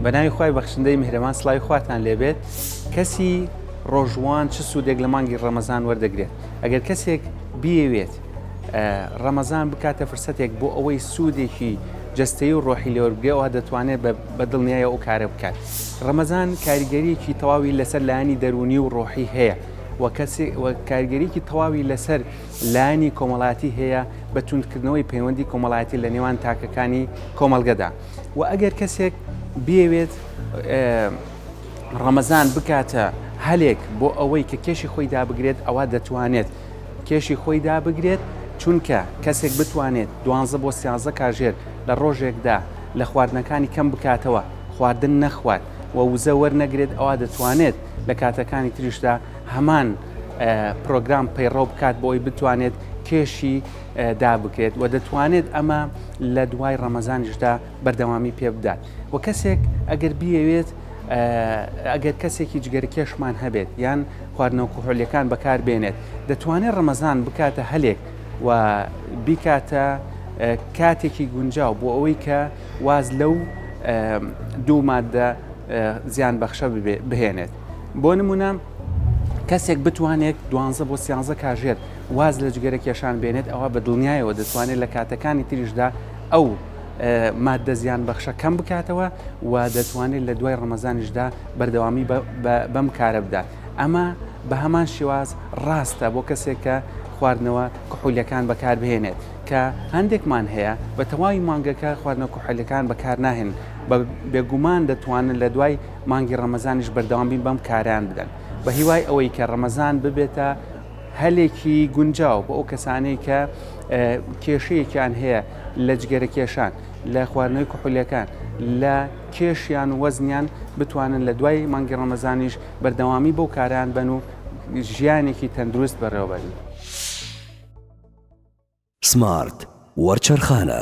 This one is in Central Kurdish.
بەناوی خوای بەخشندەی میهرەبان سڵاوی خواتان لێبێت کەسی ڕۆژووان چ سوودێک لە مانگی ڕەمەزان وەردەگرێت ئەگەر کەسێک بیەوێت ڕەمەزان بکاتە فرسەتێک بۆ ئەوەی سوودێکی جەستەی و ڕۆحی لێوەربگرێەوە دەتوانێت بە دڵنیایە ئەو کارە بکات ڕەمەزان کاریگەریەکی تەواوی لەسەر لایانی دەرونی و ڕۆحی هەیە وە کەسی کارگەریکی تەواوی لەسەر لانی کۆمەڵاتی هەیە بە توندکردنەوەی پەیوەندی کۆمەڵایەتی لە نێوان تاکەکانی کۆمەلگەدا وە ئەگەر کەسێک بیەوێت ڕەمەزان بکاتە هەلێک بۆ ئەوەی کە کێشی خۆی دابگرێت ئەوە دەتوانێت کێشی خۆی دابگرێت چونکە کەسێک بتوانێت دوانزە بۆ سیازە کاژێر لە ڕۆژێکدا لە خواردنەکانی کەم بکاتەوە خواردن نەخوات و وزە وەرنەگرێت ئەوە دەتوانێت لە کاتەکانی تریشدا هەمان پرۆگرام پەیڕەو بکات بۆی بتوانێت کێشی دا بکرێت و دەتوانێت ئەمە لە دوای ڕەمەزانیشدا بەردەوامی پێ بدات و کەسێک ئەگەر بیەوێت ئەگەر کەسێکی جگەرکێشمان هەبێت یان خواردنەوە کوهۆلەکان بەکار بێنێت دەتوانێت ڕەمەزان بکاتە هەلێک و بیکاتە کاتێکی گونجاو بۆ ئەوەی کە واز لەو دوو مادە زیان بەخشە بهێنێت بۆ نمونە کەسێک بتوانێت دوانزە بۆ سیانزە کاژێر واز لە جگەرە کێشان بێنێت ئەوا بە دڵنیایەوە دەتوانێت لە کاتەکانی تریشدا ئەو ماددە زیان بەخشە کەم بکاتەوە و دەتوانێت لە دوای ڕەمەزانیشدا بەردەوامی بەم کارە بدات ئەمە بە هەمان شێواز ڕاستە بۆ کەسێک کە خواردنەوە کحولەکان بەکاربهێنێت کە هەندێکمان هەیە بە تەواوی مانگەکە خواردنە کوحلەکان بەکار ناهێن بە بێگومان دەتوانن لە دوای مانگی ڕەمەزانیش بەردەوام بین بەم کاران بدەن بە هیوای ئەوەی کە ڕەمەزان ببێتە هەلێکی گونجاو بۆ ئەو کەسانەی کە کێشەیەکیان هەیە لە جگەرە کێشان لە خواردنەوەی کحولیەکان لە کێشیان و وەزنیان بتوانن لە دوای مانگی ڕەمەزانیش بەردەوامی بەو کاران بن و ژیانێکی تەندروست بەڕێوەبەرن. سمارت وەرچەرخانە.